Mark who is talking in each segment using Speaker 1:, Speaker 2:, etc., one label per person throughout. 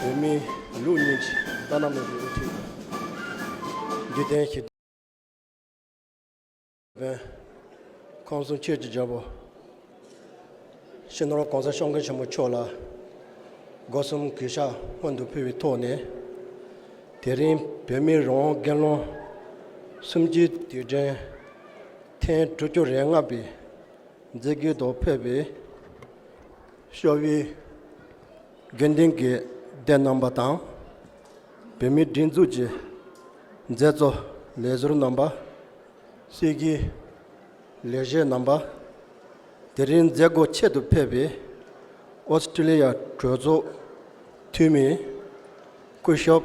Speaker 1: བོད་མི་ལུགས་གཉིས་ཀྱི་བླ་ན་མེད་པའི་དབུ་ཁྲིད་དགེ་ལྡན་ཞི་བའི་ཁོང་གསུང་ཆོས་ཀྱི་རྒྱལ་པོ་སྤྱི་ནོར ྋགོང་ས ྋསྐྱབས་མགོན་ཆེན་པོ་མཆོག་ལ་སྒོ་གསུམ་གུས་ཕྱག་སྔོན་དུ་ཕུལ་བའི་ཐོག་ནས་དེ་རིང་བོད་མིའི་རང་དབང་སྒེར་ལངས་གསུམ་བཅུའི་དུས་དྲན་ཐེངས་དྲུག་ཅུ་རེ་ལྔ་པའི་མཛེས་དགེ་དང་ཕེབས་པའི་ཤོག་བུའི་དགེ་འདུན་གྱི་སྡེ་རྣམ་པ་དང། བོད་མིའི་སྒྲིག་འཛུགས་ཀྱི་མཛད་གཙོ་ལས་ཟུར་རྣམ་པ། སྲིད་ཀྱི་ལས་བྱེད་རྣམ་པ། དེ་རིང་མཛད་སྒོ་ཆེད་དུ་ཕེབས་པའི་ཨོ་སི་ཀྲི་ལི་ཡ་གྲོས་ཚོགས་འཐུས་མི་སྐུ་ཞབས།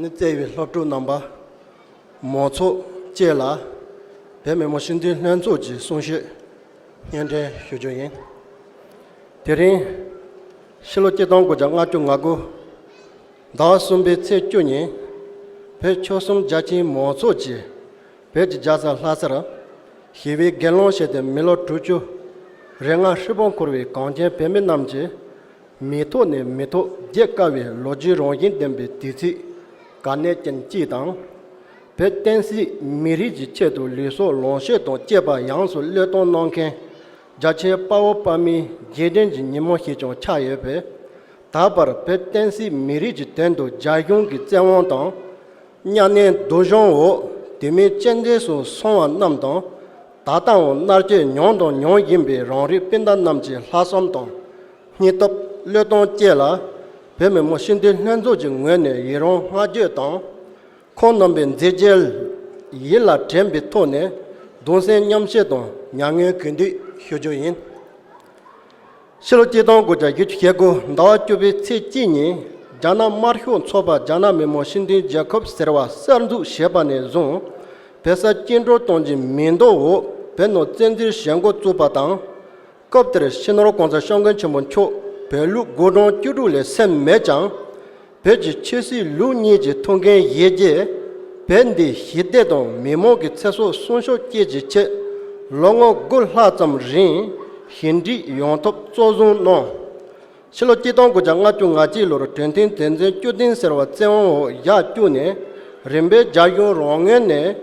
Speaker 1: ནི་བརྩེ་བའི་སློབ་ཕྲུག་རྣམ་པ། མོ་ཚོགས་བཅས་ལ་བོད་མི་མོ་ཤི་འདུས་ལྷན་ཚོགས་ཀྱི་གསུང་བཤད་སྙན་འགྲེལ་ཞུ་རྒྱུ་ཡིན། དེ་རིང། ཕྱི་ལོ་སྐྱིད་སྟོང་དགུ་བརྒྱ་ང་དྲུག་ང་དགུ། ཟླ་བ་གསུམ་པའི་ཚེས་བཅུ་ཉིན། བོད་ཆོལ་གསུམ་རྒྱ་ཆེའི་མོ་ཚོགས་ཀྱིས་བོད་ཀྱི་རྒྱལ་ས་ལྷ་སར། ཞི་བའི་དགེ་སློང་བྱས་ཏེ་མི་ལོ་དྲུག་ཅུ་རེ་ལྔ་ཧྲིལ་པོ་འཁོར་བའི་གངས་ཅན་བོད་མི་རྣམས་ཀྱི། མི་ཐོག་ནས་མི་ཐོག་བརྒྱད་དཀའ་བའི་ལོ་རྒྱུས་རང་བཞིན་ལྡན་པའི་དུས་ཚིགས་དཀའ་གནད་ཅན་གཅིག་དང། བོད་བསྟན་སྲིད་མི་རིགས་ཀྱི་ཆེད་དུ་ལུས་སྲོག་ལོངས་སྤྱོད་དང་བཅས་པ་ཡངས་སུ་བློས་གཏོང་གནང་མཁན་རྒྱ་ཆེའི་དཔའ་བོ་དཔའ་མིའི་རྗེས་དྲན་གྱི་ཉིན་མོ་ཞིག་ཀྱང་ཆགས་ཡོད་པས། ད་བར་བོད་བསྟན་སྲིད་མི་རིགས་ཀྱི་དོན་དུ་རྒྱ་གཞུང་གི་བཙན་དབང་དང། གཉའ་གནོན་སྡུག་སྦྱོང་འོག་དུས་མིན་སྤྱན་འདྲེན་སུ་སོང་བ་རྣམས་དང། ད་ལྟའང་མནར་གཅོད་མྱོང་དང་མྱོང་བཞིན་པའི་རང་རིགས་སྤུན་ཟླ་རྣམས་ཀྱི་ལྷག་བསམ་དང། སྙིང་སྟོབས་བློས་གཏོང་བཅས་ལ། བོད་མི་མང་སྤྱི་འཐུས་ལྷན་ཚོགས་ཀྱི་ངོས་ནས་ཡི་རང་བསྔགས་བརྗོད་དང། ཁོང་རྣམ་པའི་མཛད་རྗེས་ཡིད་ལ་དྲན་པའི་ཐོག་ནས་གདུང་སེམས་མཉམ་བསྐྱེད་དང་མྱ་ངན་གུས་འདུད་ཞུ་རྒྱུ་ཡིན། ཕྱི་ལོ་སྐྱིད་སྟོང་དགུ་བརྒྱ་བརྒྱད་ཅུ་གྱ་དགུ་ཟླ་བ་བཅུ་པའི་ཚེས་གཅིག་ཉིན་རྒྱ་ནག་དམར་ཤོག་ཚོགས་པ་རྒྱ་ནག་མི་མང་སྤྱི་མཐུན་རྒྱལ་ཁབ་ཟེར་བ་གསར་འཛུགས་བྱས་པ་ནས་བཟུང་བལ་ས་སྐྱིད་འགྲོ་གཏོང་གྱི་མིང་འདོགས་འོག་བལ་ནང་བཙན་འཛུལ་བྱེད་འགོ་བཙུགས་པ་དང། སྐབས་དེར་ཕྱི་ནོར་གོང་ས་ཤོག་མགོན་ཆེན་པོ་མཆོག་བལ་ལུགས་དགུ་གྲངས་བཅུ་དྲུག་ལས་སད་མེད་ཀྱང། བོད་ཀྱི་ཆོས་སྲིད་ལུགས་གཉིས་ཀྱི་ཐོག་འགན་བཞེས་རྗེས། བོད་འདི་ཞི་བདེ་དང་མི་མང་གི་ཚེ་སྲོག་སྲུང་ཤུགས་བསྐྱེད་ཀྱི་ཆེད། ལོ་ངོ་དགུ་ལྷག་ཙམ་རིང་ཞི་འགྲིག་ཡོང་ཐབས་གཙོར་བཟུང་གནང། ཕྱི་ལོ་སྐྱིད་སྟོང་དགུ་བརྒྱ་ང་བཅུ་ང་གཅིག་ལོར་གྲོས་མཐུན་དེ་མཚོན་བསྐྱུར་གཏིང་ཟེར་བ་བཙན་དབང་འོག་བཞག་བཅུག་ནས་རིམ་པས་རྒྱ་གཞུང་རང་ངོས་ནས།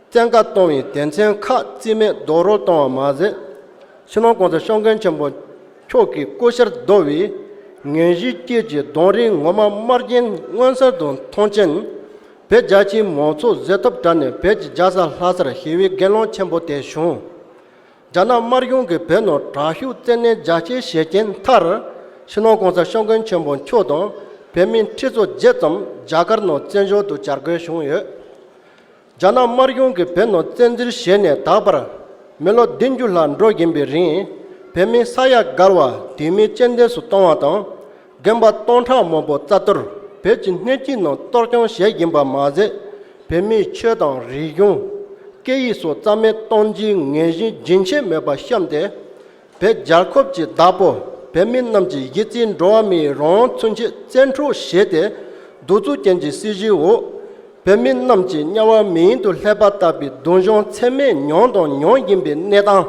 Speaker 1: བཙན་བཀའ་གཏོང་བའི་སྡེ་ཚན་ཁག་རྩིས་མེད་རྡོག་རོལ་གཏོང་བ་མ་ཟད། ཕྱི་ནང་གོང་ས་ཤོག་མཁན་ཆེན་པོ་མཆོག་གིས་སྐུ་བཤེར་བསྡུ་བའི་ངན་གཞིའི་རྐྱེན་གྱིས་གདོང་རིང་ངོ་མ་དམར་རྒྱན་མངོན་གསལ་དུ་མཐོང་རྐྱེན། བོད་རྒྱ་ཆེའི་མང་ཚོགས་གཟེབ་ཐོབ་དྲ་ནས་བོད་ཀྱི་རྒྱལ་ས་ལྷ་སར་ཞི་བའི་དགེ་སློང་ཆེན་པོ་དེ་བྱུང། རྒྱ་ནག་དམར་གཞུང་གིས་བོད་ནང་དྲག་ཤུགས་བཙན་གནོན་རྒྱ་སྐྱེད་བྱས་རྐྱེན་མཐར། ཕྱི་ནང་གོང་ས་ཤོག་མཁན་ཆེན་པོ་མཆོག་དང་བོད་མི་ཁྲི་ཚོ་བརྒྱད་ཙམ་རྒྱ་གར་ནང་བཙན་བྱོལ་དུ་གྱར་དགོས་བྱུང་ཡོད། རྒྱ་ནག་དམར་གཞུང་གིས་བོད་ནང་བཙན་འཛུལ་བྱས་ནས་ད་བར་མི་ལོ་བདུན་ཅུ་ལྷག་འགྲོ་བཞིན་པའི་རིང་བོད་མི་ས་ཡ་བརྒལ་བ་དུས་མེ་ལྕེ་འདེབས་སུ་བཏང་བ་དང། རྒན་པ་སྟོང་ཕྲག་མང་པོ་རྩ་གཏོར་བོད་ཀྱི་སྣོད་བཅུད་ནང་གཏོར་སྐྱོང་བྱས་བཞིན་པ་མ་ཟད། བོད་མིའི་ཆོས་དང་རིག་གཞུང། སྐད་ཡིག་སོགས་རྩ་མེད་གཏོང་རྒྱུའི་ངན་བཞིན་རྒྱུན་ཆད་མེད་པར་བཤམས་ཏེ། བོད་རྒྱལ་ཁབ་ཀྱི་བདག་པོ་བོད་མི་རྣམས་ཀྱི་གཞི་རྩའི་འགྲོ་བ་མིའི་རང་མཚོན་ཆེད་བཙན་འཕྲོག་བྱས་ཏེ་གདུག་རྩུབ་ཅན་གྱི་སྲིད་བྱུས་འོག་བོད་མི་རྣམས་ཀྱི་དམྱལ་བ་མིང་དུ་ལྷད་པ་བཏབ་པའི་གདུང་གཞོང་ཚད་མེད་མྱོང་དང་མྱོང་བཞིན་པའི་གནས་སྟངས་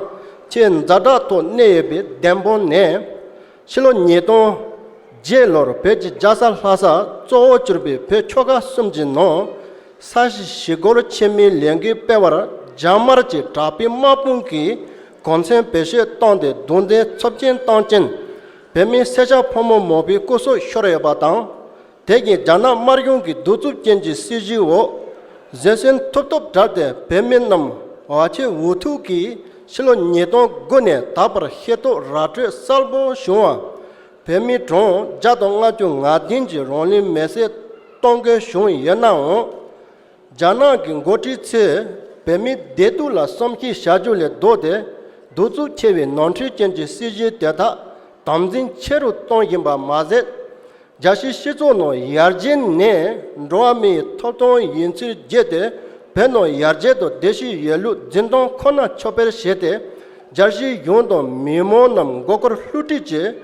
Speaker 1: ཆེས་འཛའ་དྲག་ཐོག་གནས་ཡོད་པའི་བདེན་དཔང་ནས། ཕྱི་ལོ་ཉིས་སྟོང། བརྒྱད་ལོར་བོད་ཀྱི་རྒྱལ་ས་ལྷ་སར་གཙོ་བོར་གྱུར་པའི་བོད་ཆོལ་ཁ་གསུམ་གྱི་ནང་ས་གཞི་ཞི་རྒོལ་ཆེན་མོའི་ལས་འགུལ་སྤེལ་བར་རྒྱ་དམར་གྱི་དྲག་པའི་དམག་དཔུང་གིས་གོང་ཚན་བེད་སྤྱོད་བཏང་སྟེ་རྡུང་རྡེག་འཚོབ་སྐྱེན་བཏང་རྐྱེན། བོད་མི་སེར་སྐྱ་ཕོ་མོ་མང་པོའི་སྐུ་སྲོག་ཤོར་ཡོད་པ་དང། དེ་བཞིན་རྒྱ་ནག་དམར་གཞུང་གི་གདུག་རྩུབ་ཅན་གྱི་སྲིད་བྱུས་འོག་བཟོད་བསྲན་ཐུབ་ཐོབ་བསྒྲགས་ཏེ་བོད་མི་རྣམས་བ་ཕྱི་འུ་ཐུག་གིས་ཕྱི་ལོ་ཉིས་སྟོང་དགུ་ནས་ད་བར་ཤེས་རྟོགས་ར་སྤྲོད་གསལ་པོ་བྱུང་བར། བོད་མི་གྲངས་བརྒྱ་དང་ལྔ་བཅུ་ང་བདུན་གྱིས་རང་ལུས་མེ་བསྲེགས་གཏོང་དགོས་བྱུང་ཡོད་ནའང། རྒྱ་ནག་གི་མགོ་ཁྲིད་ཚོས་བོད་མིའི་བདེ་སྡུག་ལ་བསམ་ཤེས་བྱ་རྒྱུ་ལས་ལྡོག་སྟེ་གདུག་རྩུབ་ཆེ་བའི་ནོར་འཁྲུལ་ཅན་གྱི་སྲིད་ཇུས་དེ་དག་དམ་འཛིན་ཆེ་རུ་གཏོང་བཞིན་པ་མ་ཟད། རྒྱ་ཕྱིའི་སྤྱི་ཚོགས་ནང་ཡར་རྒྱས་ནི་འགྲོ་བ་མིའི་ཐོབ་ཐང་ཡིན་ཚུལ་བརྗོད་དེ་བོད་ནང་ཡར་རྒྱས་དང་བདེ་སྐྱིད་ཡོད་ལུགས་འཛིན་སྟངས་ཁོ་ན་ཕྱོགས་ཕེར་བྱས་ཏེ་རྒྱ་ཕྱིའི་གཞུང་དང་མི་མང་རྣམས་མགོ་སྐོར་ལྷུ་སྒྲིག་བྱེད་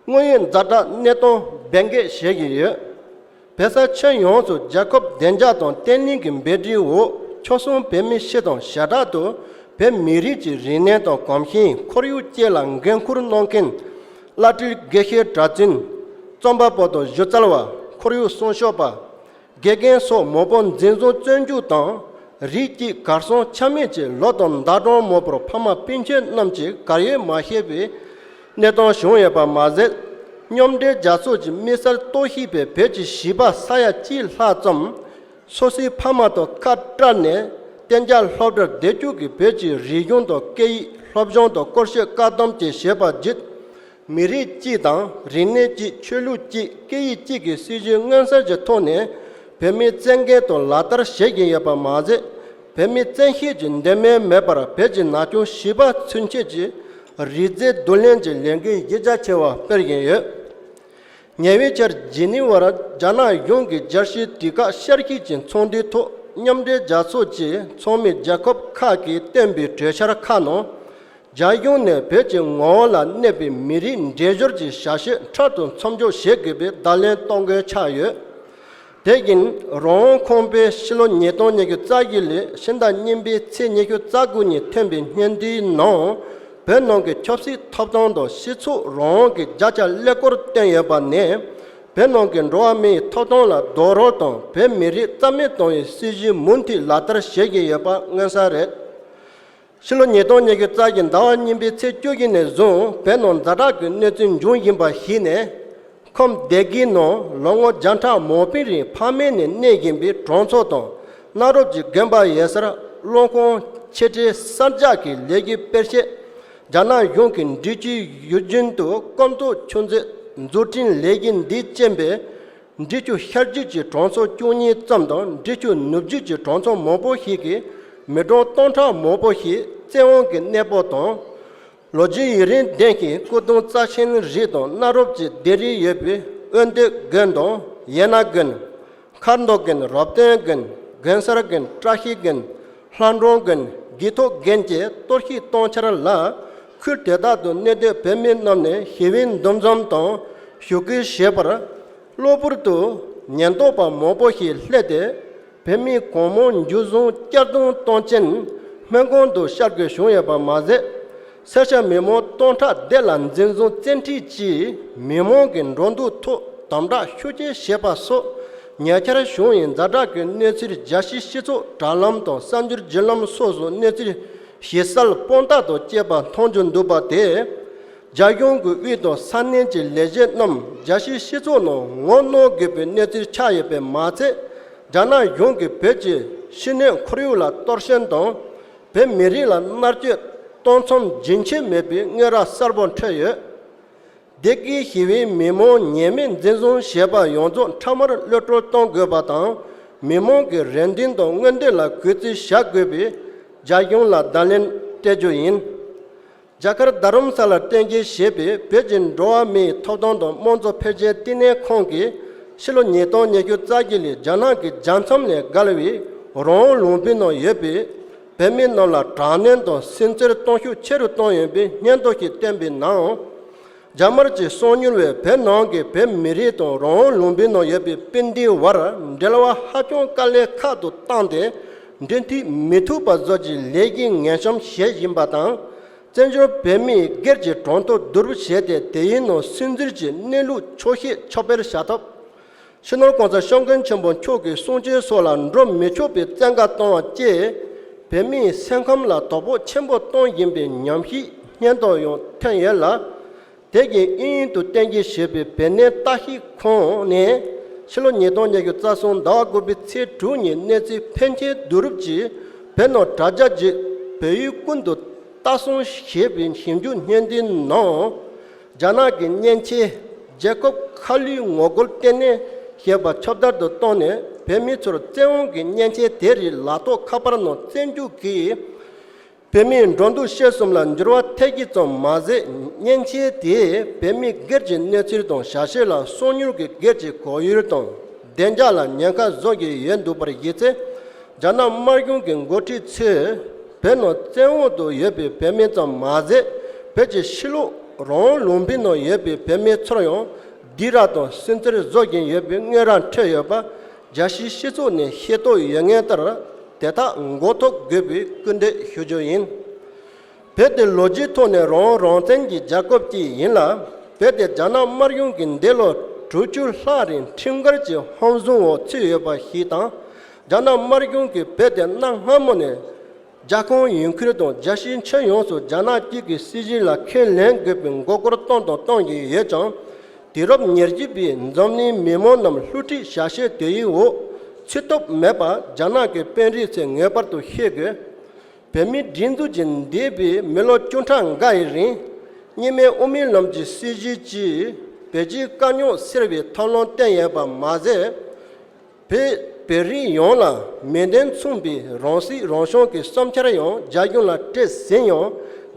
Speaker 1: དངོས་ཡོད་མཛའ་གྲགས་གནས་སྟངས་རྦད་འགེག་བྱེད་བཞིན་ཡོད། བོད་ས་ཁྱོན་ཡོངས་སུ་རྒྱལ་ཁབ་བདེ་འཇགས་དང་བརྟན་ལྷིང་གི་འབད་འབྲིའི་འོག་ཕྱོགས་གསུམ་བོད་མི་སྤྱི་དང་ཞེ་དྲག་ཏུ་བོད་མི་རིགས་ཀྱི་རིག་གནས་དང་གོམས་གཤིས་ཁོར་ཡུག་བཅས་ལ་འགན་ཁུར་གནང་མཁན། བླ་སྤྲུལ་དགེ་བཤེས་གྲྭ་བཙུན། རྩོམ་པ་པོ་དང་གཞི་རྩལ་བ་ཁོར་ཡུག་སྲུང་ཤོག་པ། དགེ་རྒན་སོགས་མོ་པོ་འཛིན་བཟུང་བཙོན་འཇུག་དང་རིགས་གཅིག་གར་སོང་ཆ་མེད་ཀྱི་ལོ་དང་ཟླ་གྲོངས་མོ་པོར་ཕ་མ་སྤུན་མཆེད་རྣམས་ཀྱིས་གར་ཡོད་མ་ཤེས་པའི་གནས་སྟངས་བྱུང་ཡོད་པ་མ་ཟད། སྙོམ་སྒྲིལ་རྒྱ་མཚོ་གྱི་དམིགས་བསལ་གཏོར་བཤིག་པས་བོད་ཀྱི་བྱིས་པ་ས་ཡ་གཅིག་ལྷག་ཙམ་སོ་སོའི་ཕ་མ་དང་ཁ་བྲལ་ནས་གཏན་འཇགས་སློབ་གྲྭར་བསྡད་བཅུག་གིས་བོད་ཀྱི་རིག་གཞུང་དང་སྐད་ཡིག་སློབ་སྦྱོང་དང་སྐོར་གཞས་བཀག་སྡོམ་བཅས་བྱས་པ་བརྒྱུད། མི་རིགས་གཅིག་དང་རིག་གནས་གཅིག་ཆོས་ལུགས་གཅིག་སྐད་ཡིག་གཅིག་གི་སྲིད་བྱུས་མངོན་གསལ་གྱི་ཐོག་ནས་བོད་མིའི་བཙན་སྐད་དུ་ལག་བསྟར་བྱེད་ཀྱིན་ཡོད་པ་མ་ཟད་བོད་མིའི་བཙན་ཤེད་ཀྱི་འདོད་མོས་མེད་པར་བོད་ཀྱི་ན་ཆུང་བྱིས་པ་ཚུན་ཆད་ཀྱི་རིག་རྫས་བསྡུ་ལེན་གྱི་ལས་འགུལ་གཞི་རྒྱ་ཆེ་བ་སྤེལ་བཞིན་ཡོད། ཉེ་བའི་ཆར་ཇི་ནི་ཝར་རྒྱ་ནག་གཞུང་གིས་རྒྱལ་སྤྱིའི་དུས་བཀག་ཤར་གྱི་ཀྱི་ཚོགས་འདུའི་ཐོག་མཉམ་འབྲེལ་རྒྱལ་ཚོགས་ཀྱི་ཚོགས་མི་རྒྱལ་ཁབ་ཁག་གིས་བཏོན་པའི་གྲོས་འཆར་ཁག་ནང། རྒྱ་གཞུང་ནས་བོད་ཀྱི་ངོ་བོ་ལ་གནས་པའི་མི་རིགས་འདྲེས་སྦྱོར་གྱི་བྱ་གཞི་ཕྲག་ཏུ་མཚམས་འཇོག་བྱེད་དགོས་པའི་བརྡ་ལན་གཏོང་དགོས་ཆགས་ཡོད། དེ་བཞིན་རོང་བོ་ཁོང་པའི་ཕྱི་ལོ་ཉིས་སྟོང་ཉི་ཤུ་རྩ་བཞི་ལོའི་ཕྱི་ཟླ་གཉིས་པའི་ཚེས་ཉི་ཤུ་རྩ་དགུ་ཉིན་ཐོན་པའི་སྙན་ཐོའི་ནང་བོད་ནང་གི་ཆབ་སྲིད་ཐོབ་ཐང་དང་སྤྱི་ཚོགས་རང་དབང་གི་བརྒྱ་ཆ་ཀླད་ཀོར་བཏོན་ཡོད་པ་ནས་བོད་ནང་གི་འགྲོ་བ་མིའི་ཐོབ་ཐང་ལ་རྡོག་རོལ་དང་བོད་མི་རིགས་རྩ་མེད་གཏོང་བའི་སྲིད་ཇུས་མུ་མཐུད་ལག་བསྟར་བྱེད་བཞིན་ཡོད་པ་མངོན་གསལ་རེད། ཕྱི་ལོ་ཉིས་སྟོང་ཉེར་བརྒྱད་རྩ་ཆེན་ཟླ་བ་གཉིས་པའི་ཚེས་བཅུ་དགུ་ནས་བཟུང་བོད་ནང་རྫ་དྲག་གི་གནས་ཚུལ་འབྱུང་བཞིན་པ་གཞིགས་ནས། ཁོམ་སྡེ་དགེའི་ནང་ལོ་ངོ་བརྒྱ་ཕྲག་མང་པོའི་རིང་ཕ་མེས་ནས་གནས་བཞིན་པའི་གྲོང་ཚོ་དང་གནའ་རབས་ཀྱི་དགོན་པ་ཡེ་སར་སློང་ཁང་ཆེ་གྲས་གསར་རྒྱག་གི་ལས་རྒྱུ་སྤེལ་ཆེད། རྒྱ་ནག་གཞུང་གི་འབྲི་ཆུའི་ཡུལ་རྒྱུན་དུ་སྐོམ་ཚོགས་ཆུ་མཛོད་འཛུགས་སྐྲུན་ལས་རྒྱུ་འདི་རྐྱེན་པས། འབྲི་ཆུ་ཤར་རྒྱུད་ཀྱི་གྲོང་ཚོ་བཅུ་གཉིས་ཙམ་དང་འབྲི་ཆུ་ནུབ་རྒྱུད་ཀྱི་གྲོང་ཚོ་མང་པོ་ཞིག་གི་མི་གྲངས་སྟོང་ཕྲག་མང་པོ་ཞིག་བཙན་དབང་གི་གནས་སྤོ་དང། ལོ་རྒྱུས་ཡུན་རིང་ལྡན་ཞིང་སྐུ་གདུང་རྩ་ཆེན་རིགས་དང་གནའ་རབས་ཀྱི་ལྡེབས་རིས་ཡོད་པའི་དབོན་སྟོད་དགོན་དང་ཡན་ན་དགོན། མཁར་མདོ་དགོན་རབ་སྟོན་དགོན་དགོན་གསར་དགོན་བཀྲ་ཤིས་དགོན་ལྷ་འབྲོང་དགོན་དགེ་ཐོག་དགོན་བཅས་གཏོར་བཤིག་གཏོང་འཆར་ལ། ཁུལ་དེ་དག་ཏུ་གནས་སྡོད་བོད་མི་རྣམས་ནས་ཞི་བའི་འདུ་འཛོམས་དང་ཞུ་སྐུལ་བྱེད་པར། གློ་བུར་དུ་ཉེན་རྟོག་པ་མང་པོ་ཞིག་ལྷད་དེ་བོད་མི་གང་མང་འཇུ་བཟུང་བསྐྱར་རྡུང་གཏོང་ཅན་སྨན་ཁང་དུ་ཤར་དགོས་བྱུང་ཡོད་པ་མ་ཟད། སེར་སྐྱ་མི་མང་སྟོང་ཕྲག་བརྒྱད་ལ་འཛིན་བཟུང་བཙན་འཁྲིད་ཀྱིས་མི་མང་གི་འགྲོ་འདུག་ཐོག་དམ་དྲག་ཤུགས་ཆེ་བྱས་པ་སོགས་ཉེ་ཆར་བྱུང་བའི་རྫ་བྲག་གི་གནས་ཚུལ་རྒྱལ་སྤྱིའི་སྤྱི་ཚོགས་དྲ་ལམ་དང་གསར་འགྱུར་བརྒྱུད་ལམ་སོགས་སུ་གནས་ཚུལ་ཞེས་ས་ལ་སྤོང་རྟགས་དང་བཅས་པ་མཐོང་རྒྱུ་འདུག་པ་དེས། རྒྱ་གཞུང་གི་དབུས་དང་ས་གནས་ཀྱི་ལས་བྱེད་རྣམས་རྒྱ་ཆེའི་སྤྱི་ཚོགས་ནང་ངོ་གནོང་དགོས་པའི་གནས་ཚུལ་ཆགས་ཡོད་པས་མ་ཚད། རྒྱ་ནག་གཞུང་གིས་བོད་ཀྱི་ཕྱི་སྣོད་ཁོར་ཡུག་ལ་གཏོར་ཤན་དང། བོད་མི་རིགས་ལ་མནར་གཅོད་གཏོང་མཚམས་རྒྱུན་ཆད་མེད་པའི་དངོས་ར་གསར་པ་འཕྲོད་ཡོད། སྡེ་དགེའི་ཞི་བའི་མི་མང་ཉེས་མེད་འཛིན་བཟུང་བྱས་པ་ཡོངས་རྫོགས་འཕྲལ་མར་གློད་བཀྲོལ་གཏོང་དགོས་པ་དང་མི་མང་གི་རེ་འདུན་དང་མངོན་འདོད་ལ་གུས་བརྩི་བྱ་དགོས་པའི་རྒྱ་གཞུང་ལ་བརྡ་ལན་སྤྲད་རྒྱུ་ཡིན། རྒྱ་གར་རྡ་རམ་ས་ལར་བསྟན་རྒྱལ་ཞེས་པའི་བོད་ཀྱི་འགྲོ་བ་མིའི་ཐོབ་ཐང་དང་དམངས་གཙོ་ཕལ་ཆེར་བསྟི་གནས་ཁང་གིས་ཕྱི་ལོ་ཉིས་སྟོང་ཉེར་བཅུ་རྩ་བརྒྱད་ལོའི་རྒྱ་ནག་གི་རྒྱལ་མཚམས་ལས་བརྒལ་བའི་རོང་བོ་ལུང་པའི་ནང་ཡོད་པའི་བོད་མི་རྣམས་ལ་དྲག་གནོན་དང་སིམ་འཚེར་གཏོང་ཤུགས་ཆེ་རུ་བཏང་ཡོད་པའི་སྙན་ཐོ་ཞིག་བསྟན་པའི་ནང། རྒྱ་དམར་གྱི་གསང་མྱུལ་བས་བོད་ནང་གི་བོད་མི་རིགས་དང་རང་དབང་ལུང་པའི་ནང་ཡོད་པའི་དཔེ་འདིའི་བར་འབྲེལ་བ་ཧ་ཅང་དཀའ་ལས་ཁག་ཏུ་བཏང་སྟེ་འབྲེལ་མཐུད་མི་ཐུབ་པ་བཟོ་རྒྱུའི་ལས་ཀྱི་ངན་གཤོམ་བྱེད་བཞིན་པ་དང། བཙན་བྱོལ་བོད་མིའི་སྒེར་གྱི་གྲོང་ཐོ་བསྡུ་རུབ་བྱས་ཏེ་དེའི་ནང་སིམ་འཚེར་གྱི་གནས་ལུགས་འཁྱོག་བཤད་ཕྱོགས་ཕེར་བྱ་ཐབས། ཕྱི་ནང་གང་སར་ཤོག་མགོན་ཆེན་པོ་མཆོག་གི་གསུང་ཆོས་སོགས་ལ་འགྲོ་མི་ཆོག་པའི་བཙན་བཀའ་བཏང་བ་བཅས་བོད་མིའི་སེམས་ཁམས་ལ་དོ་ཕོག་ཆེན་པོ་གཏོང་བཞིན་པའི་ཉམས་ཤིག་སྙན་ཐོ་ཡང་ཐོན་ཡོད་ལ། དེ་བཞིན་དབྱིན་ཡུལ་དུ་བསྟན་རྒྱས་ཞེས་པའི་བོད་གནས་རྟ་ཤི་ཁོངས་ནས་ཕྱི་ལོ་ཉིས་སྟོང་ཉེར་བཞི་རྩ་གསུམ་ཟླ་བ་དགུ་པའི་ཚེས་དྲུག་ཉིན་གནས་ཚུལ་ཕན་ཆད་བསྡུ་རུབ་ཀྱིས་བོད་ནང་དྲ་རྒྱ་བརྒྱུད་བོད་ཡུལ་ཀུན་ཏུ་རྟ་སྲུང་ཞེས་པའི་ཞིབ་འཇུག་བརྙན་འདིའི་ནང། རྒྱ་ནག་གི་གཉེན་ཆས་རྒྱལ་ཁབ་ཁ་བསླུས་ངོ་རྒོལ་ལྟེ་གནས་ཞེས་པ་ཁྱབ་བརྡལ་དུ་གཏོང་ནས་བོད་མི་ཚོར་བཙན་འོང་གི་གཉེན་ཆས་དེ་རིགས་ལག་ཐོགས་ཁ་པར་ནང་བཙན་རྒྱུག་གིས་བོད་མིའི་འགྲོ་འདུག་བཤད་གསུམ་ལ་འགྱུར་བ་ཐེབས་ཀྱི་ཙམ་མ་ཟད་གཉེན་ཆས་དེས་བོད་མི་སྒེར་གྱི་གནས་ཚུལ་དང་ཞལ་ཤེས་ལ་གསོག་མྱུར་གྱི་སྒེར་གྱི་གོ་ཡུལ་དང་བདེ་འཇགས་ལ་ཉེན་ཁ་བཟོ་གི་ཡོད་འདུག་པར་གཞི་རྩའི་རྒྱ་ནག་དམར་གཞུང་གི་འགོ་ཁྲིད་ཚོས་བོད་ནང་བཙན་འོག་ཏུ་ཡོད་པའི་བོད་མི་ཙམ་མ་ཟད་བོད་ཀྱི་ཕྱི་ལོགས་རང་ལུང་བའི་ནང་ཡོད་པའི་བོད་མི་ཚོར་ཡང་སྡིགས་ར་དང་སུན་གཙེར་བཟོ་བཞིན་ཡོད་པའི་དངོས་ར་འཕྲོད་ཡོད་པ་རྒྱལ་སྤྱིའི་སྤྱི་ཚོགས་ནས་ཤེས་རྟོགས་ཡོད་ངེས་ལྟར་དེ་དག་མགོ་ཐོག་དགོས་པའི་སྐུལ་འདེད་ཞུ་རྒྱུ་ཡིན། བོད་དེ་ལོ་རྒྱུས་ཐོག་ནས་རང་རང་བཙན་གྱི་རྒྱ་ཁོབ་ཅིག་ཡིན་ལ་བོད་དེ་རྒྱ་ནག་དམར་གཞུང་གི་འདས་ལོ་དྲུག་ཅུ་ལྷག་རིང་ཁྲིམས་འགལ་གྱི་ཧམ་བཟུང་འོག་ཚུད་ཡོད་པ་ཞིག་དང། རྒྱ་ནག་དམར་གཞུང་གིས་རྦད་དེ་གནའ་སྔ་མོ་ནས་རྒྱ་ཁོངས་ཡུལ་ཁུལ་དང་རྒྱལ་སྤྱིའི་མཆན་ཡོངས་སུ་རྒྱ་ནག་གཅིག་གི་སྲིད་གཞི་ལ་ཁས་ལེན་དགོས་པའི་མགོ་སྐོར་བཏང་དང་གཏོང་བཞིན་ཡོད་ཀྱང། དུས་རབས་ཉེར་གཅིག་པའི་འཛམ་གླིང་མི་མང་རྣམས་བསླུ་བྲིད་བྱ་བྱེད་དེ་ཡི་འོག་ཚུད་སྟོབས་མེད་པ་རྒྱ་ནག་གི་དཔོན་རིགས་ཚོས་ངེས་པར་དུ་ཤེས་དགོས། བོད་མིའི་སྒྲིག་འཛུགས་ཀྱིས་འདས་པའི་མི་ལོ་བཅུ་ཕྲག་འགའ་ཡི་རིང་རྙིང་མའི་དབུ་མའི་ལམ་གྱི་སྲིད་གཞིའི་སྤྱིའི་བོད་སྤྱིའི་དཀའ་རྙོག་སེལ་བའི་ཐབས་ལམ་བསྟན་ཡོད་པ་མ་ཟད། བོད་བོད་རིགས་ཡོངས་ལ་མེ་མདའི་མཚུངས་པའི་རང་སྲིད་རང་སྐྱོང་གི་བསམ་འཆར་ཡང་རྒྱ་གཞུང་ལ་སྤྲད་ཟིན་ཡང་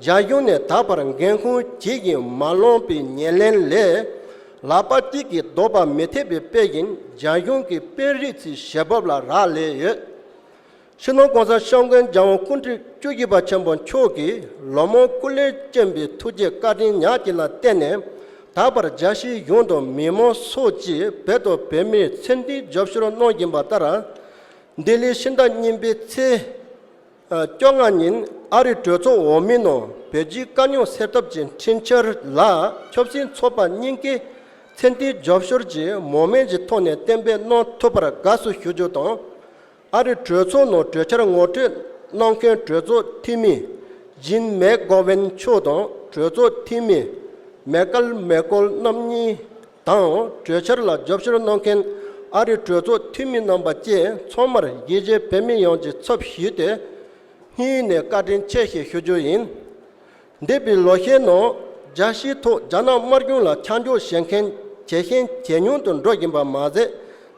Speaker 1: རྒྱ་གཞུང་ནས་ད་བར་འགན་ཁུར་གྱིས་ཀྱིས་མ་ལོངས་པའི་ཉེར་ལེན་ལས། ལ་པ་ཏི་གི་ལྡོག་པ་མི་ཐེག་པའི་དཔེ་བཞིན་རྒྱ་གཞུང་གི་དཔོན་རིགས་ཚོའི་ཞལ་འབབ་ལ་རག་ལས་ཡོད། ཕྱི་ནང་གང་སར་ཤངས་མགོན་རྒྱལ་དབང་ཀུན་བྲིས་བཅུ་བཞི་པ་ཆེན་པོ་མཆོག་གིས་ལོ་མང་སྐུ་ལས་བསྐྱོན་པའི་ཐུགས་རྗེ་བཀའ་དྲིན་ཉག་གཅིག་ལ་བརྟེན་ནས་ད་བར་རྒྱལ་སྤྱིའི་གཞུང་དང་མི་མང་སོགས་ཀྱིས་བོད་དང་བོད་མིར་མཚན་མཐུན་རྒྱབ་སྐྱོར་གནང་བཞིན་པ་ལྟར། ལྡི་ལིའི་ཕྱི་ཟླ་གཉིས་པའི་ཚེས་བཅོ་ལྔ་ཉིན་ཨ་རིའི་གྲོས་ཚོགས་འོག་མའི་ནང་བོད་རྒྱའི་དཀའ་རྙོག་སེལ་ཐབས་ཀྱི་འཕྲིན་འཆར་ལ་ཆབ་སྲིད་ཚོགས་པ་གཉིས་ཀས་མཚན་མཐུན་རྒྱབ་སྐྱོར་གྱི་མོ་མན་གྱི་ཐོག་ནས་གཏན་འབེབས་གནང་ཐུབ་པར་དགའ་བསུ་ཞུ་རྒྱུ་དང། ཨ་རི་གྲོས་ཚོགས་ནང་གྲོས་འཆར་ངོ་སྤྲོད་གནང་མཁན་གྲོས་ཚོགས་འཐུས་མི་ཇིན་མེག་གྷོ་ཝན་མཆོག་དང་གྲོས་ཚོགས་འཐུས་མི་མེ་ཀལ་མེ་ཀོལ་རྣམ་གཉིས་དང་གྲོས་འཆར་ལ་རྒྱབ་སྐྱོར་གནང་མཁན་ཨ་རི་གྲོས་ཚོགས་འཐུས་མི་རྣམ་པ་བཅས་ཚང་མར་རྒྱལ་སྤྱིའི་བོད་མི་ཡོངས་ཀྱི་ཚབ་ཞུས་ཏེ་སྙིང་ནས་བཀའ་དྲིན་ཆེ་ཞེས་ཞུ་རྒྱུ་ཡིན། འདས་པའི་ལོ་ཤས་ནང་རྒྱལ་སྤྱིའི་ཐོག་རྒྱ་ནག་དམར་གཞུང་ལ་ཆ་འཇོག་བྱེད་མཁན་ཇེ་ཞན་ཇེ་ཉུང་དུ་འགྲོ་བཞིན་པ་མ་ཟད་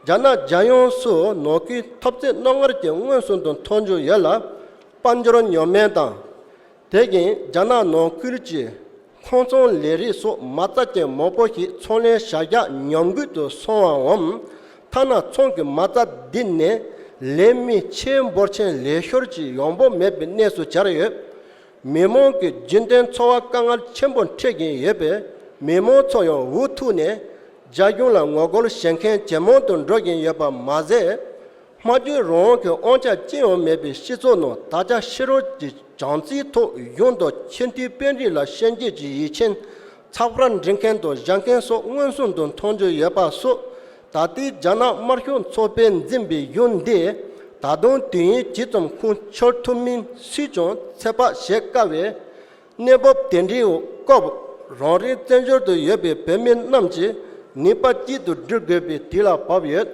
Speaker 1: རྒྱ་ནག་རྒྱལ་ཡོངས་སུ་ནོར་ཁུལ་ཐོབ་ཚད་རྣོ་ངར་གྱིས་མངོན་སུམ་དུ་མཐོ་འགྱུར་ཡོད་ལ། དཔལ་འབྱོར་ཉོ་སྨན་དང། དེ་བཞིན་རྒྱ་ནག་ནང་ཁུལ་གྱི་མཐོང་ཚོང་ལས་རིགས་སོགས་མ་རྩ་ཅན་མང་པོ་ཞིག་ཚོང་ལས་བྱ་གཞག་ཉམས་རྒུད་དུ་སོང་བའམ། ཐ་ན་ཚོང་གི་མ་རྩ་བསྡུས་ནས་ལས་མི་ཆེད་འབོར་ཆེན་ལས་ཤོར་གྱིས་ཡོང་འབབ་མེད་པའི་གནས་སུ་གྱར་ཡོད། མི་མང་གི་རྒྱུན་གཏན་འཚོ་བ་དཀའ་ངལ་ཆེན་པོ་འཕྲད་ཀྱིན་ཡོད་པས་མི་མང་ཚོ་ཡང་འུ་ཐུག་ནས་རྒྱ་གཞུང་ལ་ངོ་རྒོལ་བྱེད་མཁན་ཇེ་མང་དུ་འགྲོ་བཞིན་ཡོད་པ་མ་ཟད། སྨྲ་བརྗོད་རང་དབང་གི་དབང་ཆ་ཅི་ཡང་མེད་པའི་སྤྱི་ཚོགས་ནང་ད་ཆ་ཕྱི་རོལ་གྱི་བྱམས་བརྩེའི་ཐོག་གཞུང་དང་ཆེས་མཐོའི་དཔོན་རིགས་ལ་ཤན་འབྱེད་ཀྱི་ཡིད་ཆེན་ཚགས་པར་འབྲི་མཁན་དང་བཞག་མཁན་སོགས་མངོན་སུམ་དུ་མཐོང་རྒྱུ་ཡོད་པ་སོགས་ད་ལྟའི་རྒྱ་ནག་དམར་ཤོག་ཚོགས་པས་འཛིན་པའི་གཞུང་འདི་ད་དུང་དུས་ཡུན་ཇི་ཙམ་ཁུངས་འཁྱོལ་ཐུབ་མིན་སུས་ཀྱང་ཚད་དཔག་བྱེད་དཀའ་བས། གནས་བབ་དེ་འདྲའི་འོག་སྐབས་རང་རེའི་བཙན་བྱོལ་དུ་ཡོད་པའི་བོད་མི་རྣམས་ཀྱིས་ནུས་པ་གཅིག་ཏུ་བསྒྲིལ་དགོས་པའི་དུས་ལ་བབ་ཡོད།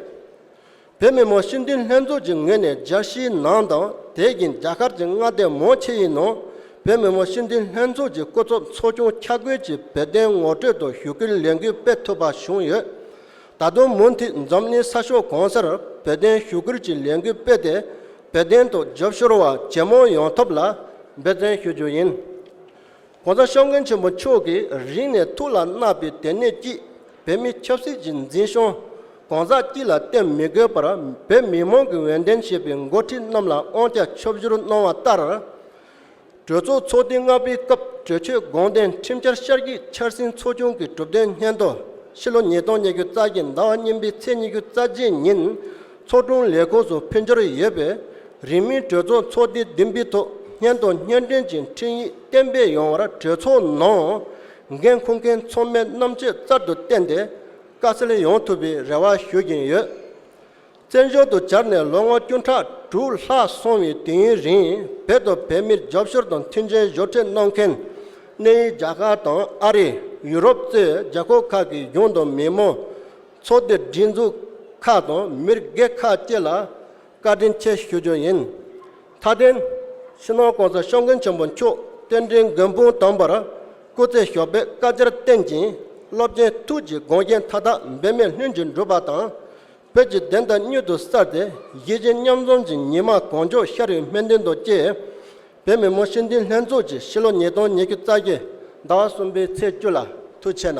Speaker 1: བོད་མི་མང་སྤྱི་འཐུས་ལྷན་ཚོགས་ཀྱི་ངོས་ནས་རྒྱལ་སྤྱིའི་ནང་དང་དེ་བཞིན་རྒྱ་གར་གྱི་མངའ་སྡེ་མང་ཆེ་ཡི་ནང་བོད་མི་མང་སྤྱི་འཐུས་ལྷན་ཚོགས་ཀྱི་སྐུ་ཚབ་ཚོགས་ཆུང་འཁྱག་རྒོད་ཀྱི་བོད་དོན་ངོ་སྤྲོད་དང་ཞུ་སྐུལ་ལས་འགུལ་སྤེལ་ཐུབ་པ་བྱུང་ཡོད། ད་དུང་མུ་མཐུད་འཛམ་གླིང་ས་ཕྱོགས་གང་སར་བོད་དོན་ཞུ་སྐུལ་གྱི་ལས་འགུལ་སྤེལ་ཏེ་བོད་དོན་ཐོག་རྒྱབ་ཤོར་བ་ཇེ་མང་ཡོང་ཐབས་ལ་འབད་བརྩོན་ཞུ་རྒྱུ་ཡིན། གོང་ས་ཤོག་མགོན་ཆེན་པོ་མཆོག་གིས་རིང་ནས་ཐུགས་ལ་བརྣག་པའི་དད་ནུས་ཀྱིས་བོད་མི་ཆབ་སྲིད་ཀྱི་འཛིན་སྐྱོང་གང་ཟག་སྤྱི་ལ་བརྟེན་མི་དགོས་པར་བོད་མི་མང་གི་འོས་འདེམས་བྱས་པའི་མགོ་ཁྲིད་རྣམས་ལ་དབང་ཆ་ཕྱོགས་བཞུར་གནང་བ་ལྟར། གྲོས་ཚོགས་ཚོགས་དུས་ལྔ་པའི་སྐབས་གྲོས་ཆོད་དགོངས་དོན་ཁྲིམས་འཆར་ཤར་རྒྱུད་འཆར་ཟིན་ཚོགས་ཆུང་གི་གྲུབ་དོན་སྙན་ཐོ་ཕྱི་ལོ་ཉིས་སྟོང་ཉེར་བཅུ་རྩ་གི་ཟླ་བ་གཉིས་པའི་ཚེས་ཉི་ཤུ་རྩ་བརྒྱད་ཉིན་ཚོགས་དྲུང་ལས་ཁུངས་སུ་ཕུལ་འབྱོར་ཡོད་པས་རིང་མིན་གྲོས་ཚོགས་ཚོགས་དུས་བདུན་པའི་ཐོག་སྙན་ཐོ་སྙན་སྒྲོན་གྱི་འཕྲིན་ཡིག་གཏན་འབེབས་ཡོང་བར་གྲོས་ཚོགས་ནང་འགན་འཁུར་མཁན་ཚོགས་མི་རྣམས་ཆེད་བསྩར་དུ་བསྟེན་ཏེ་བཀའ་སྩལ་ཡོང་ཐུབ་པའི་རེ་བ་ཞུ་བཞིན་ཡོད། བཙན་བྱོལ་དུ་གྱར་ནས་ལོ་ངོ་བཅུ་ཕྲག་དྲུག་ལྷག་སོང་བའི་དུས་ཡུན་རིང་བོད་དུ་བོད་མིར་རྒྱབ་སྐྱོར་དང་མཐུན་རྐྱེན་བཞོ་སྤྲད་གནང་མཁན། གནས་ཡུལ་རྒྱ་གར་དང་ཨ་རི། ཡུ་རོབ་གཙོས་རྒྱ་ཁོག་ཁག་གི་གཞུང་དང་མི་དམངས། ཚོགས་སྡེ་སྒྲིག་འཛུགས་ཁག་དང་མིར་སྒེར་ཁག་བཅས་ལ་བཀའ་དྲིན་ཆེ་ཞུ་རྒྱུ་ཡིན། མཐའ་བརྟེན། ཕྱི་ནང་གང་སར་ཤོག་མགོན་ཆེན་པོ་མཆོག་རྟེན་འབྲེལ་མགོན་དཔུང་དམ་པར་སྐུ་ཚེ་ཞོགས་པའི་བཀའ་རྒྱར་བརྟེན་ཅིང་སློབ་ཆེན་ཐུགས་ཀྱི་དགོངས་རྒྱན་མཐའ་དག་འབད་མེད་ལྷུན་གྱིས་འགྲུབ་པ་དང། བོད་ཀྱི་བདེན་མཐའ་མྱུར་དུ་གསར་ཏེ་གཞིས་བྱེས་མཉམ་འཛོམས་ཀྱི་ཉི་མ་གང་མགྱོགས་ཤར་བའི་སྨོན་འདུན་དང་བཅས། བོད་མི་མོ་ཤི་འདུས་ལྷན་ཚོགས་ཀྱིས་ཕྱི་ལོ་ཉིས་སྟོང་ཉེར་བཅུ་རྩ་བརྒྱད་ཟླ་བ་གསུམ་པའི་ཚེས་བཅུ་ལ་ཐུགས་ཆེ་ན།